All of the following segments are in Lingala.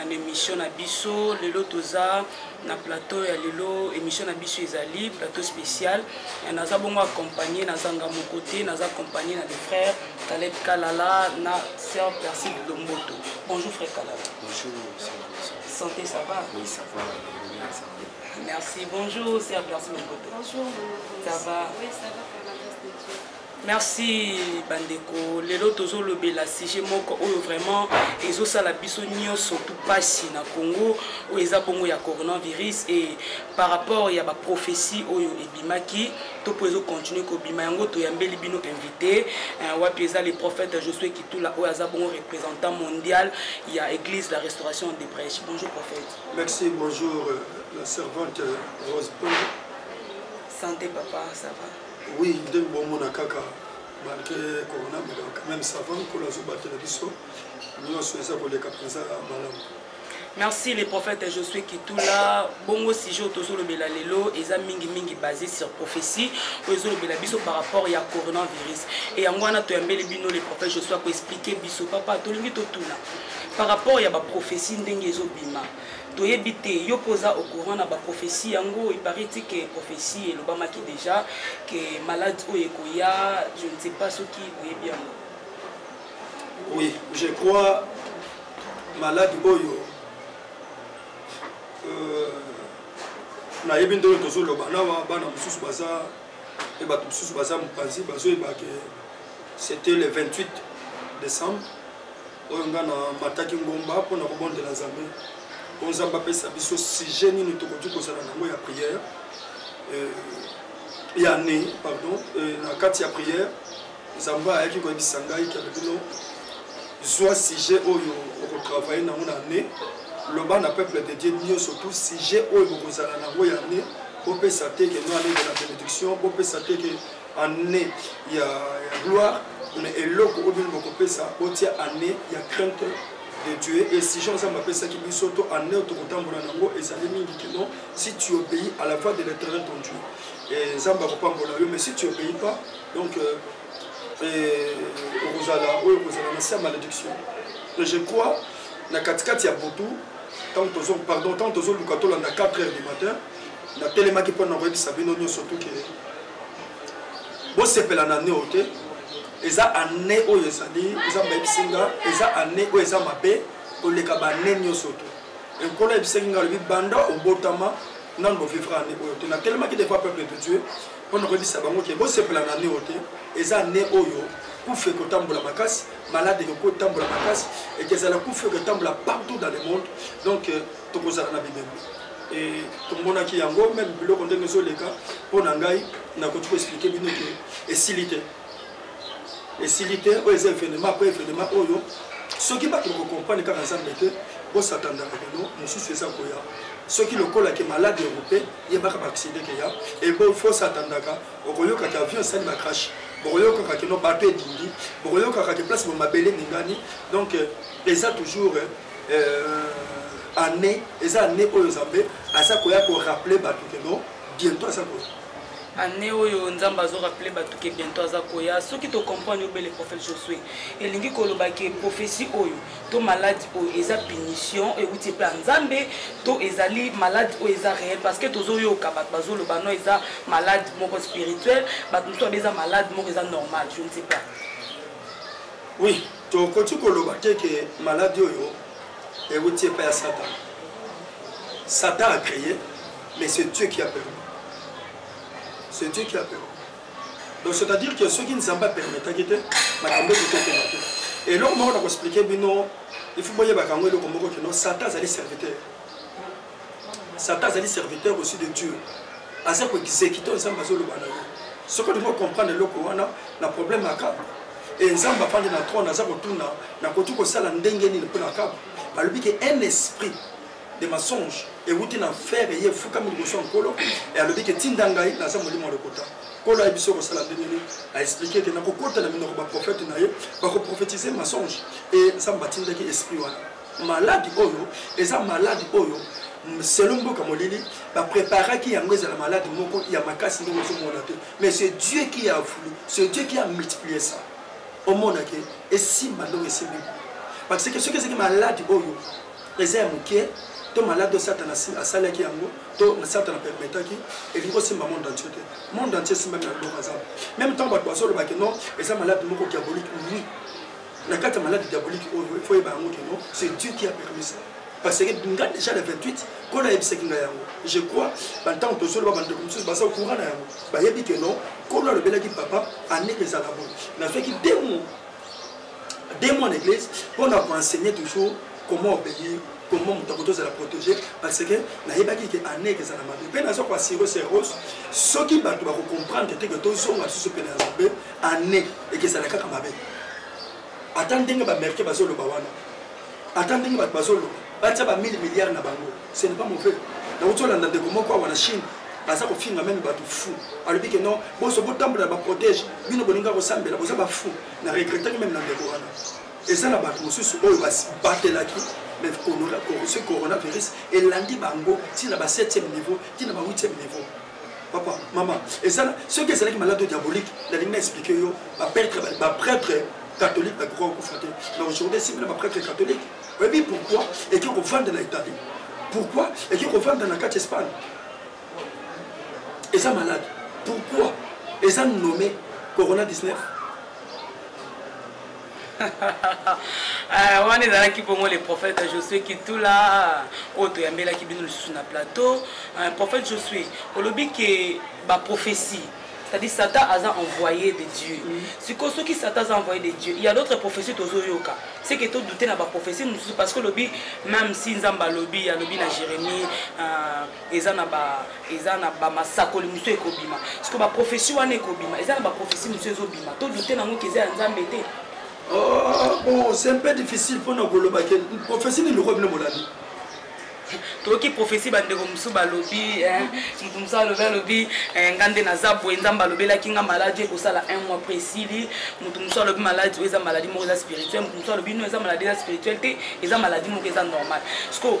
en emission na biso lelo toza na plateau ya lelo emission na biso ezali plateau spécial naza bongo accompagné naza nga moko te naza accompagné na le frère Caleb Kalala na sœur Persil Lomboto bonjour frère Kalala bonjour santé ça va oui ça va merci bonjour sœur Persil Lomboto bonjour ça va oui ça va par la grâce de Dieu Merci ba ndeko, lelo tozo lobela sujet moko oyo vraiment ezo sala biso nioso tout pasi na Congo, oyo eza bongo ya coronavirus et par rapport ya ba prophetie oyo ebimaki to po ezo continuer ko bima yango toyambeli bino invité euh, wapi eza le prophète Josué Kitula oyo aza bongo représentant mondial ya église la restauration de prêche. Bonjour prophète. Merci, bonjour euh, la servante Rose Bonjour. Santé papa, ça va? Oui, ndenge bomona kaka malgré corona mais quand même ça va nkolo azobatela biso nyonso eza koleka mpenza malamu merci le prophète josué kitula bongo sujet oyo tozolobela lelo eza mingimingi basé sur prophétie oyo ezolobela biso par rapport ya coronavirus e yango wana toyambeli bino le prophète josué akoexplike biso papa tolingi totuna par rapport ya baprophétie ndenge ezobima Toyebi te, yo pe oza au courant na ba prophetie yango? Il parait dit que prophetie elobamaki dejà que malade oyo ekoya, je ne sais pas soki oyebi yango. Oui, je crois malade oyo euh, nayebi nde oyo tozoloba nawa bana mosusu baza mpe bato mosusu baza mopanzi bazoyeba ke c'était le 28 décembre oyo nga na mataki ngomba mpo na kobondela nzambe mpo nzambe apesa biso sujet nini tokoki kozala nango ya prière euh, ya ne pardon euh, na kati ya prière nzambe ayaki koyebisa ngai kende bino zwa sujet oyo okotravaille nango na ne loba na peuple de dieu nyonso tout sujet oyo bokozala nango ya ne bopesa te ke noanenge na bénédiction bopesa te ke annee ya, ya gloire na eloko oyo bino bokopesa botia année ya crainte de dieu exigent nzambe apesaki biso to année oyo tokotambola nango ezali mingi kino si tu obéis à la voix de l'éternel ton dieu et nzambe akopambola yo mais si tu obéis pas donc euh, okozala oyo okozala na sia malédiction et je crois na katikati ya butu ntango tozo pardon ntango tozoluka tolanda 4 heures du matin natelemaki mpo na koyebisa bino nyonso tuke bosepela na neo te eza ane oyo ezali nzambe ayebisi nga eza ane oyo eza mabe koleka bane nyonso te ekolo ayebisaki nga alobi banda obotama nano bovivre ane oyo te natelemaki defa peuple de dieu mpo na koyebisa bango ke bosepela na neo te eza ane oyo kufa ekotambola makasi malade ekotambola makasi ekezala kufa ekotambola partout dans le monde donc euh, tokozala na bilembo e, tomonaki yango meme biloko ndenge ezoleka mpo na ngai nakoki koexplike bino ke esili te esili te oyo eza evenema mpo evenema oyo soki bato bakokomprane kaka nzambe te bosatandaka lelo mosusu eza koya soki lokola ke malade europe yebaka baakside keya ebo fosatandaka okoyokaka avion esali bacrash bokoyokaka keno bato edindi bokoyokaka ke place bomabele ningani donc eza toujours euh, année eza année oyo nzambe aza koya korappeler bato ke non bientôt aza koya année oyo nzambe azorapele bato ke bientôt aza koya soki tocomprendre obele prophète josue elingi koloba ke prophétie oyo to maladi oyo eza punition ewuti epai ya nzambe to ezali maladi oyo eza réel parce que tozoyoka bato bazoloba no eza malade moko spirituel bato mosusu abe eza malade moko eza normal je ne sais pas oui Tokoki koloba te ke maladi oyo ewuti epai ya Satan. Satan a cree, mais c'est Dieu qui a permis. C'est Dieu qui a permis. Donc c'est-à-dire que soki Nzambe apermetaki te makambo eko tokoma te. Eloko moko na koexplike bino, il faut boyebaka yango eloko moko kino Satan azali serviteur. satan azali serviteur aussi de dieu aza koexekite oyo nzambe azoloba na yo soki olingi okomprendre eloko wana na problème ya kaka e nzambe afandi na trone aza kotuna nakoki kosala ndenge nini mpo na kaka balobi ke un esprit de mensonge ewuti na fere ye efukami liboso ya nkolo e alobi ke tinda ngai naza molimo ya lokuta nkolo ayebi so kosala ndenge nini aexplike ete nakokota na minoko baprofete na ye bakoprofetize mensonge e nzambe atindaki esprit wana Maladi oyo eza maladi oyo selon mboka molili ba préparaki yango ezala malade moko ya makasi ndenge ozomona te mais c'est dieu qui a voulu c'est dieu qui a multiplié ça omona ke esimba ndenge esimbi parce que soki ezalaki malade oyo eza ya moke to malade oyo satana asalaki yango to satana permetaki elingi kosimba monde entier te monde entier esimbami na loboko ya nzambe meme ntango bato bazolobaki non eza malade moko diabolique oui na kati ya malade diabolique oyo il faut yeba yango keno c'est dieu qui a permis ça parce que nga déjà le 28 nkolo ayebisaki nga yango je crois bantango tozoloba bandeko mosusu baza ocourant na yango bayebi ke non nkolo alobelaki papa ane ezala bo nazwaki deux mois deux mois na église mpo na koenseigner toujours comment obéir comment moto akoki tozala protégé parce que nayebaki ke ane ezala mabe mpe naza koassure serose soki bato bakocomprendre te ke tozonga lisusu mpe na nzambe année ekezala kaka mabe ata ndenge bamerike bazoloba wana ata ndenge bato bazoloba batia ba 1000 milliards na bango ce n'est pas mauvais nauti olanda ndeko moko awa na chine aza kofinga meme bato fou alobi ke non boso botambola na baprotège bino bolinga kosambela boza bafou na regrettaki meme na ndeko wana eza na bato mosusu oyo batelaki mais ce coronavirus elandi bango ntina ba 7e niveau ntina ba 8e niveau papa mama ezala soki ezalaki malade diabolique nalingi na explike yo baprêtre baprêtre catholique bakoka kokufa te mais aujourd'hui esimbi na baprêtre catholique oyebi pourquoi eki kovanda na italie pourquoi eki kovanda na kati espagne eza malade pourquoi eza nommé corona 19 Ah, wana ezalaki bongo le prophète josue kitula oyo toyambelaki bino lisusu na plateau ah, prophète josue olobi ke baprophétie c'est-à-dire satan aza envoyé de dieu sikoyo soki satan aza envoyé de dieu il y a d'autres prophétie tozoyoka c'est que todoute na baprophétie mosusu parce que olobi même si nzambe alobi alobi na jérémie ah, eza na ba eza na ba masakoli mosusu ekobima siko ba prophetie wana ekobima eza na ba prophetie mosusu ezobima to doute nango ke eza ya nzambe te oh, bon c'est un peu difficile mpona koloba ke prophetie nini lokola bino molandi toyoki prophetie bandeko mosusu balobi eh, moto mosusu alobi alobi eh, nga nde naza boye nzambe alobelaki nga maladi ekosala un mois pre esili moto mosusu alobi maladi oyo eza maladi moko eza spirituel moto mosusu alobi no eza maladi eza spirituel te eza maladi moko eza normal siko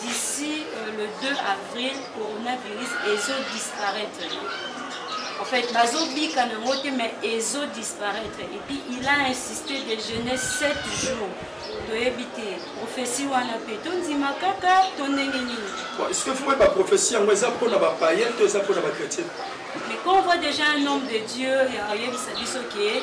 D'ici euh, le 2 avril, coronavirus ezo disparaître. En fait, bazo bika na ngote mais ezo disparaître. Et puis il a insisté de jeûner 7 jours. toyebi te profesi wana mpe tondima kaka to ndenge nini eske fo oyeba profesi yango eza mpo na bapayen to eza mpo na bachrétien mais quand on voit déjà un homme de dieu oyebisa biso ke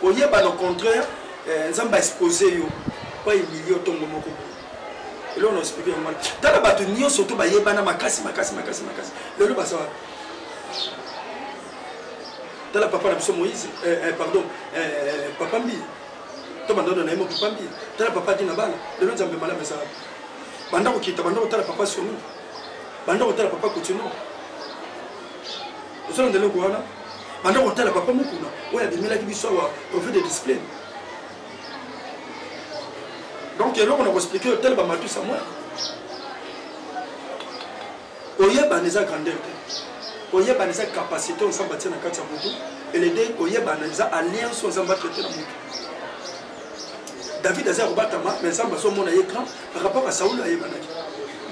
Koyeba no contraire eh, Nzambe a expose yo pa humilier otongo moko boye. Eloko na explique yango wana. Tala bato nyonso to bayebana makasi makasi makasi makasi. Lelo baza wapi? Tala papa na biso Moïse, eh, eh, pardon, eh, eh papa Mbi. To bandono na yemo papa Mbi. Tala papa Dina Bala. Lelo Nzambe malamu eza wapi? Banda kokita, banda kotala papa Soni. Banda kotala papa Kotino. ozolanda eloko wana banda kotala papa mokuna oyo abimelaki biso awa prophète de discipline donc eloko na koexplike yo tala bamatu samuel koyebana eza grandeur te koyebana eza capacité oyo nzambe atie na kati ya motu elede koyebana eza alliance oyo nzambe atraite na motu david aza kobatama mais nzambe azomona ye grand akapaka saulo ayebanaki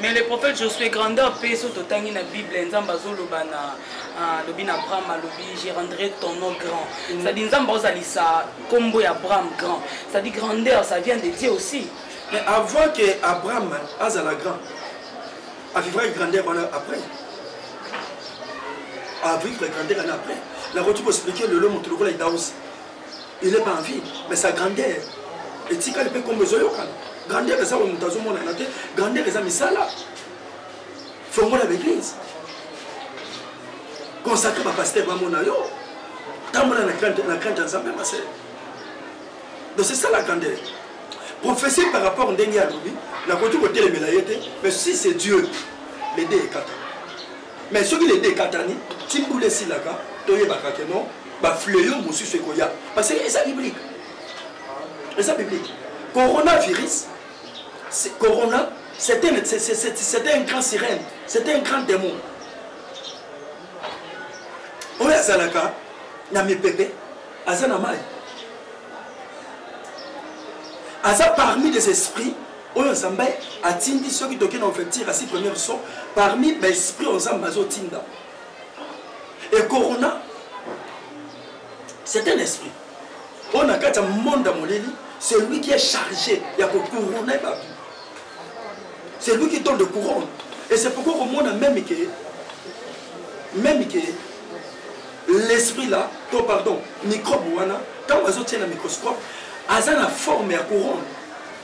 mais le prophète josué grandeur mpe so totangi na bible nzambe azoloba na ah, alobi na abraham alobi je rendrai ton nom grand mm. cest dire nzambe aozalisa nkombo ya abraham grand cest dire grandeur ça vient de dieu aussi mais avant que abraham azala grand avivrai grandeur wana après avivre grandeur wana après nakoki koexplike lelo moto lokola idausi il est pas en vie mais sa grandeur etikali mpe nkombo ezoyokana grandeur eza oyo moto azomonana te grandeur eza misala fongola baeglise consacre bapaster bamona yo tambola na crainte ya nzambe masele donc c'est ça la grandeur prophétie par rapport ndenge alobi nakoki kotelemela ye te mais si c'est dieu lede ekata Mais soki les dekatani ti mbula esilaka toyebaka ke non bafleo mosusu ekoya parce que eza biblique eza biblique coronavirus corona c'était un grand sirène c'était un grand démon oyo azalaka na mipepe aza na mai aza parmi des esprits oyo nzambe atindi soki toke na ouverture asi première son parmi baesprit oyo nzambe azotinda e corona c'est un esprit oyo na kati ya monde ya molili celui qui est chargé ya kocourone bato celui qui donne de couronne et c'est pourquoi komona même ke même ke l'esprit là to pardon microbe wana ntango azotia na microscope aza na forme ya couronne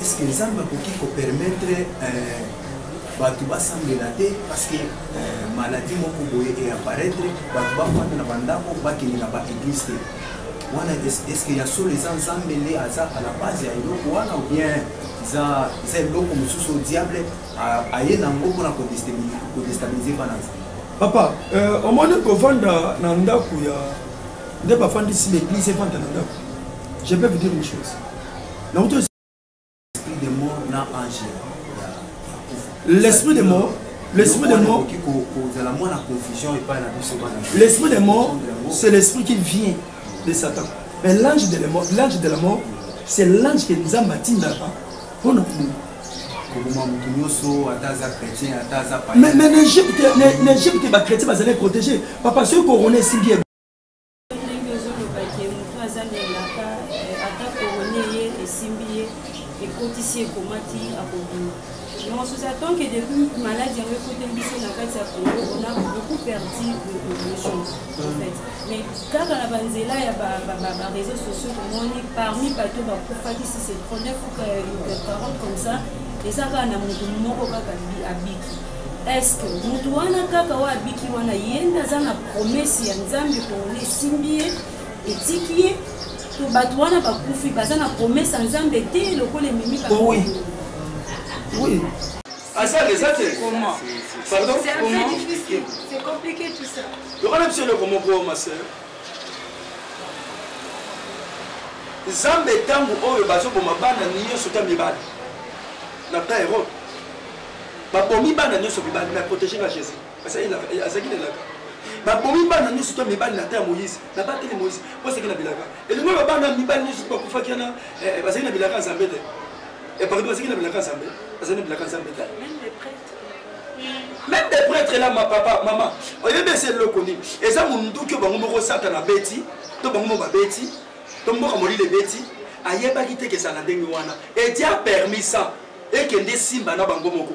est-ce que nzambe akoki kopermettre euh, bato basambela te parce que euh, maladie moko boye eaparaitre bato bafanda na bandako bakende na baeglise te wana est-ce que ya solo eza nzambe nde aza à la base ya eloko wana ou bien eza eza eloko mosusu diable aye na yango mpona kodestabilize bana nzambe papa euh, omoni kovanda na ndako ya nde bafandisi l'église efanda na ndako je peux vous dire une chose l'esprit de mort l'esprit de mort l'esprit de mort c'est l'esprit qui vient de satan mais l'ange de la mort l'ange de la mort c'est l'ange que nzambe atindaka mpo na koboma moto nyonso ata aza chrétien ata aza mais na egypte na egypte bachrétien bazali protégé papa soki korona esimbi ndenge ozoloba ke moto aza na elaka eh, ata korone ye esimbi ye ekotisi ekomati akobima donc sous attend que depuis maladi yango ekoti biso na kati ya congo on a beaucoup perdu de population en fait mais kaka na banzela ya bareseau sociaux tomoni parmi bato bakufaki si c'est 39 ou 40 comme ça eza kaka na moto moko kaka abiki Est-ce que mutu wana kaka oyo abiki wana ye nde aza na promese ya nzambe pona esimbi ye etiki ye to bato wana bakufi baza na promese ya nzambe te lokola ememi oui. oui. aza eza te pardon lokola biso eloko moko masere nzambe ntango oyo bazoboma bana nyonso ta mibali na ta erode babomi bana nyonso mibali na protege nga jésus azalaki na elaka babomi bana nyonso to mibali na ta ya moïse nabateli moïse po azalaki na bilaka elingo oyo bana mibali nyonso bakufaki wana eh, eh, bazalaki na bilaka ya nzambe te epardo eh, bazalaki na bilaka ya nzambe bazali na bilaka ya nzambe te même des prêtres là ma papa mama oyebi ese eloko nini eza monduki oyo bango moko satana abeti to bango moko babeti to mboka molili ebeti ayebaki te ke ezala ndenge wana edia permis ça ekende esimba na bango moko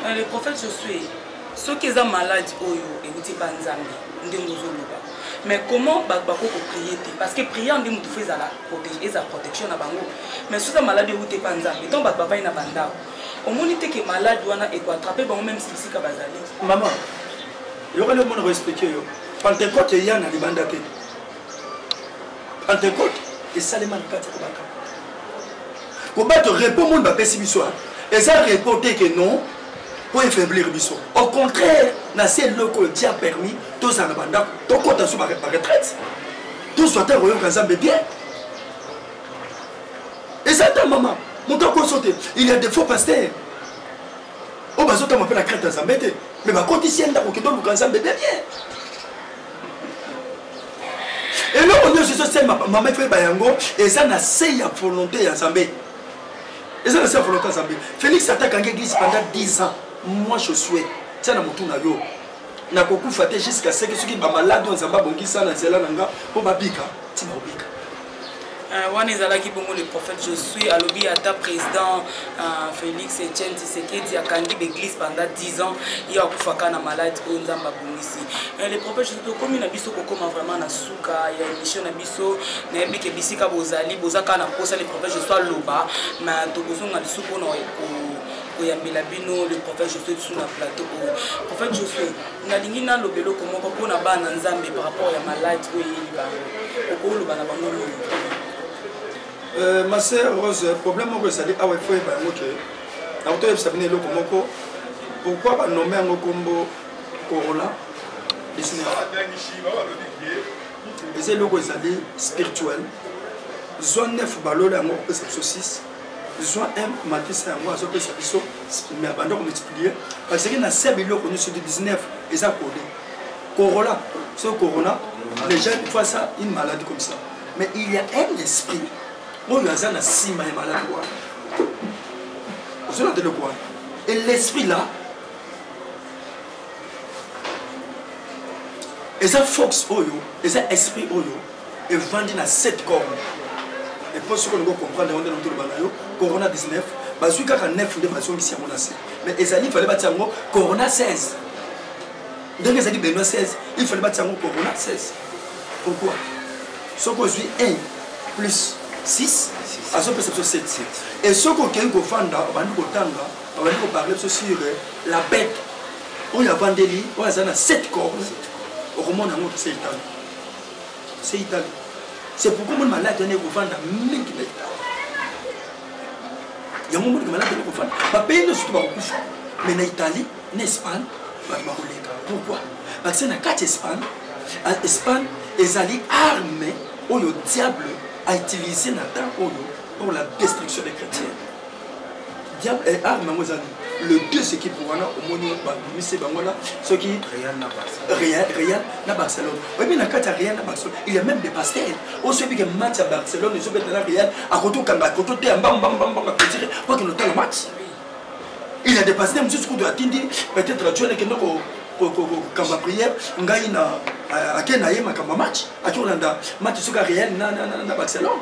euh, le prophète josue soki eza maladi oyo euti banzambe ndenge ozoloba mais comment bato bakoki koprie te parce que prière nde motu fo ezala eza protection na bango mais soki eza maladi euti epa nzambe ntango bato bavai na bandako omoni te ke maladi wana ekoatrape bango meme sisika bazali mama yokali omona koexplike yo pentecote eya na libanda te Pentecote esalema na kati ya kobaka. Kobato repos monde bapesi biso eza repos te ke non mpo efaiblir biso. Au contraire, na se eloko oyo Dieu a permis tozala na bandako tokota so baretraite tozwa te koyoka Nzambe bien. Eza ta mama moto akoso te il y a des faux pasteurs oyo bazotama mpe na crainte ya Nzambe te mais bakotisi ye ndako kende oluka Nzambe bien bien eloko nyonso ezosemba mama ifo yeba yango eza na se ya volonté ya nzambe eza na se ya volonté ya nzambe félix ata akangi église pendant 10 ans moi je souhaite tia na motu na yo nakokufa te jusqu'à seke soki bamaladi oyo nzambe abongisa na nzela na nga mpo babika ti baobika Euh, wana ezalaki bongo le prophète josue alobi ata président euh, félix etienne tisekedi akangi baeglise pendant 10 ans ye akufaka na malade oyo nzambe abongisi euh, le prophète josue tokomi na biso kokoma vraiment na suka ya émission na biso nayebi ke bisika bozali boza kaka na mposa le prophète josue aloba ma tokozonga lisu mpona koyambela bino le prophète josue lisu na plateau oyo prophète josue nalingi naloba eloko moko mpo na bana nzambe par rapport ya malade oyo eyeli bango okoloba na bango nini euh, ma sœur rose problème moko ezali awa ifo yeba yango ke nakuti oyebisa bino eloko moko pourkui banome yango nkombo corola eza eloko ezali spirituel zwa 9 balola yango opesa biso 6 zwa un makisa yango azopesa biso mais abanda komultiplier parce que na se biloko nyonso de 19 eza kode corola ce corona les gens fois ça une maladie comme ça mais il y a un esprit oyo aza na nsima ya maladi wana ozolanda eloko wana et l'esprit là eza fox oyo eza esprit oyo evandi na 7 corne epo soki olingi okomprendre yango nde nango toloba na yo corona 19 bazwi kaka 9 nde bazongisi yango na se mais ezali fale batia yango corona 16 ndenge ezali benoa 16 il fale batia yango corona 16 pourquoi soki ozwi 1 plus 6 azopesa biso 7 e soki okei kofanda obandi kotanga obandi koparle biso sur euh, la bete oyo avandeli oyo aza na 7 corne okomona yango tose etanga c'est italie c'est pourquoi moni maladi wana ekovanda mingi na italie yango moni maladi wana ekovanda bapayi nyonso to bakokufa mais na italie na espagne bato bakoleka pourquoi parce que na kati espagne espagne ezali arme oyo diable a utilisé na temps oyo pour la destruction des chrétiens diable eh, arme yango eza le deux équipe wana omoni babimise bango na soki real na barcelone oyebi na kati ya real na barcelone il y a même des pasteur oso oyebike match ya barcelone ezobeta na real akoki okanga akoki oteya mbambambambamba petire po akende otala match il y a des pasteur mosusu kutu atindi peut-être ajoel ekende kokamba prière ngai na ake na ye makambo ya match akolanda match soki ya real na barcelone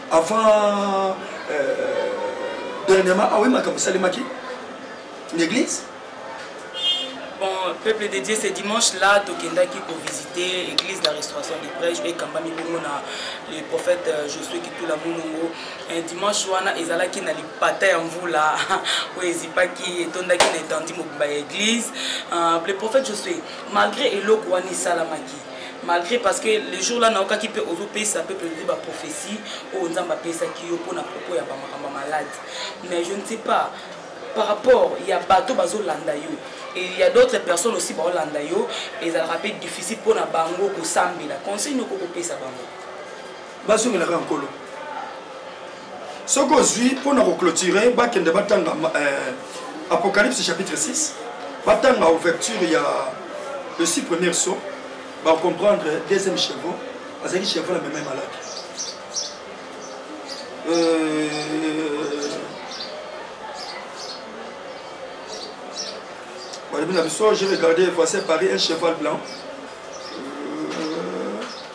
avant euh, dernièrement aoye ah makambo esalemaki na église bon peuple de dieu ce dimanche là tokendaki kovisite église de la restauration de prêche oyo ekambami bongo na le prophète euh, josué kitula molongo euh, dimanche wana ezalaki na lipata ya mvula oyo ezipaki etondaki na etandi mobimba ya église euh, le prophète josué malgré eloko wana esalamaki malgré parce que le jour là naokaki mpe ozopesa peuple ozwi baprophétie oyo oh, nzambe apesaki yo mpo na propos ya bamakambo ya malade mais je ne sais pas par rapport ya bato bazolanda yo il y a d'autres personnes aussi baolanda yo ezalaka mpe difficile mpo na bango kosambela conseil noko kopesa bango bazongela kaka nkolo soki ozwi mpo na koclotire bakende batanga euh, apocalypse chapitre 6 batanga ouverture ya le six première saut bacomprendre deuxième chevaux azalaki chevaux na meme malaki euh, balobi na biso j'ai regardé voici paris un cheval blanc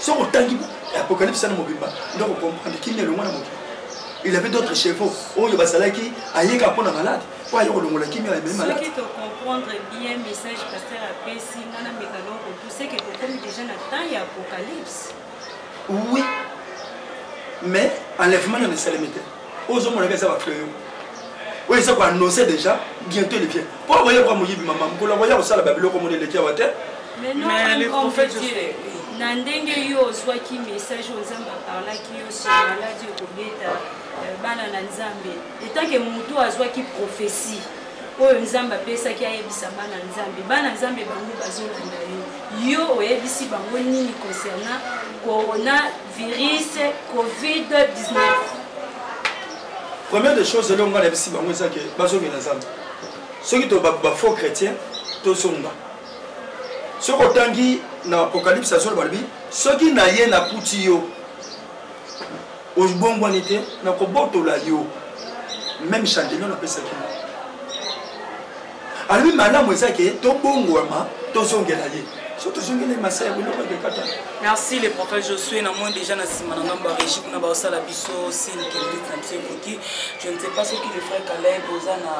soki otangi apocalypse na mobimba nde okokomprendre kimia elongwa na mokili il avait d'autres chevaux oyo bazalaki ayeka mpo na malade mpo aye kolongola kimia ememi malade oui mais enlèvement nano esalemi te oyo ozomona kaka eza bafleur oyo eza koannonce déjà bientôt le vient mpo akoya kwa moyibi mama mokolo akoya kosala babiloko mona eleki awa te na ndenge yo ozwaki message oyo nzambe aparlaki yo sur maladi okobeta euh, bana na nzambe etanke motu azwaki prophesie oyo nzambe apesaki ayebisa bana nzambe bana nzambe bango bazolanda yo yo oyebisi bango nini concernant corona virus covid 19 première des choses elongo ngai nayebisi bango eza ke bazongela nzambe soki bafaux chrétien tozonga soki otangi na apocalypse ya solo balobi soki naye nakuti yo obongwani te nakobotola yo meme chandelio napesaki alobi malamu eza ke tobongwama tozongela ye so tozongeli masaya biloko ekekata merci le prophète josue na moi déjà na nsima na ngambo ya régi kuna baosala biso sine kelbit na biso ekoki je ne sais pas soki le frère caleb oza na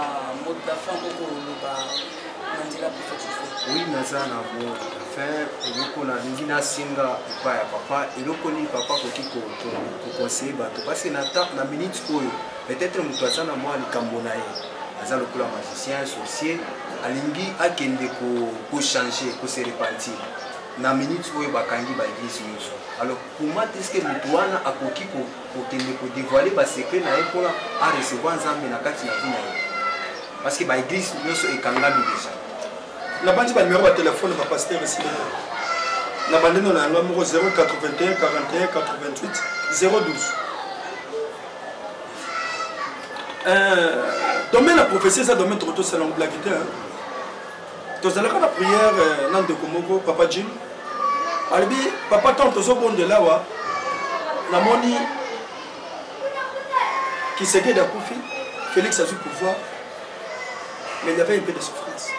mode la fin kokoloba na nzela prophète josue oui naza na mode la fin eloko nalingi nasenga epa ya papa eloko nini papa akoki koconseille bato parce que na minute oyo peut-être moto aza na mwa likambo na ye aza lokola magicien sorcier alingi akende kochange ko kose repentir na minute oyo bakangi baeglise nyonso alors comment est ce que moto wana akoki kokende kodevoile basecret na ye mpona arecevoir nzambe na kati na vi na ye parce que baeglise nyonso ekangami deja nabanzi banumero ya telefone bapaster esili na bandeno na yango moko 081 41 88 012 Euh, domaine ya prophetie eza domaine toko tosala ngo blaki te tozalaka na prière euh, na ndeko moko papa jim alobi papa ntango tozobondela awa namoni kisekedi akufi félix azwi pouvoir mais il y avait un peu de souffrance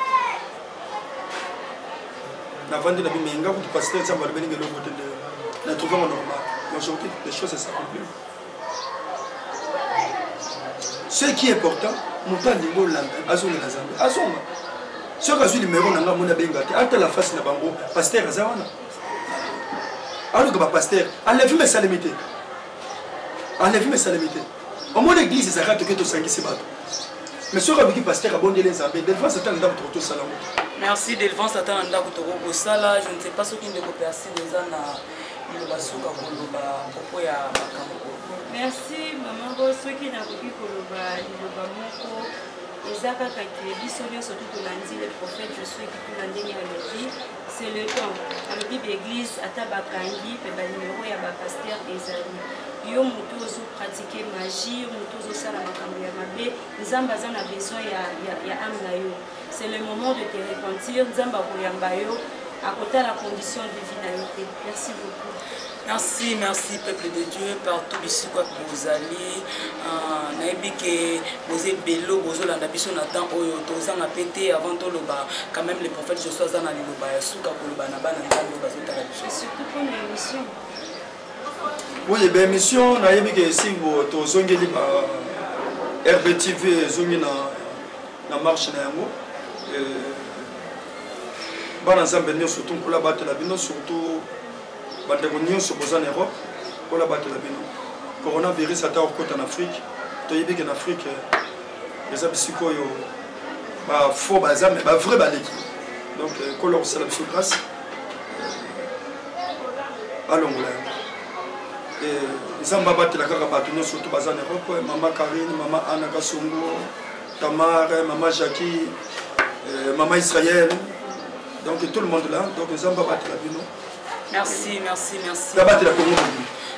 navandi na bimenga kutu pasteur nsambo alobeli ngeloko te na trouvango normal majorité des choses esakomplir ce qui est important moto alingi olanda azongela zambe azonga soki azwi limero na ngai amoni abenga te atala fasi na bango paster aza wana aluka bapaster alevi mesalemi te alevi mesalemi te omoni eglise ezalaka toke tosangisi bato mais soki aluki paster abondeli nzambe delvance ata na ndako toko tosala yango merci delvance ata na ndako toko kosala je ne sais pas soki ndeko persine eza na liloba suka koloba propos ya makambo merci mama bo soki nakoki koloba liloba moko eza kaka ke biso nyonso tu tolandi le prophète josue kitula ndenge alobi c'est le temps alobi baeglise ata bakangi mpe banimero ya bapaster ezali yo motu ozopratike magie yo motu ozosala makambo ya mabe nzambe aza na besoin ya, ya, ya ame na yo c'est le moment de te repentir nzambe akoyamba yo akotala condition de vie na yo te merci beaucoup merci merci peuple de dieu partout bisika bozali ah, nayebi ke boza ebelo bozolanda biso na temps oyo tozanga mpe te avant toloba quand même le prophète josu aza na liloba ya suka koloba na bana nzambe bazotala biso Oui, ben mission na yebi ke si bo to zongeli ba RBTV zongi na na marche na yango. Euh, bana Nzambe nyonso to nkola batela bino surtout bandeko nyonso boza na Europe nkola batela bino. Coronavirus ata okota na Afrique, toyebi ke na Afrique euh, eza bisika oyo ba faux baza mais ba vrai baleki. Donc euh, nkola kosala biso grâce. balongola yango nzambe abatela kaka bato nyonso to baza na europe mama karine mama ana kasongo tamare mama jacqui euh, mama israel donc tout le monde là donc nzambe abatela bino merci merci merci abatela kongo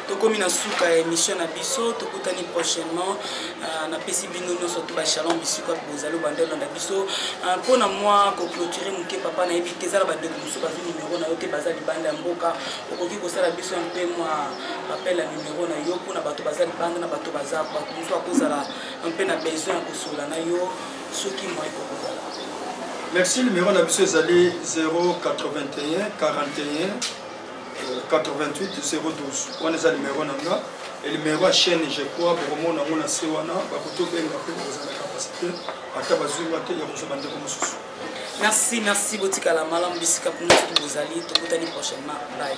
tokomi na suka ya émission na biso tokutani prochainement euh, napesi bino nyonso to bashalom bisika bozali obanda olanda biso euh, mpo na mwa koclotire moke papa nayebi te ezala bandeko mosusu bazwi nimero na yo te baza libanda ya mboka okoki kosala biso mpe mwa rappel ya nimero na yo mpo na bato baza libanda na bato baza bato mosusu akozala mpe na besoin ya kosola na yo soki mwa ekokozala merci nimero na biso ezali 081 41 88 wana eza numero na nga numero ya chaîne je crois bokomona yango na se wana bakoki obenga mpe kozala na capacité ata bazwi nga te ya kozwa bandeko mosusu merci merci botikala malamu bisika kuna soki bozali tokutani prochainement bye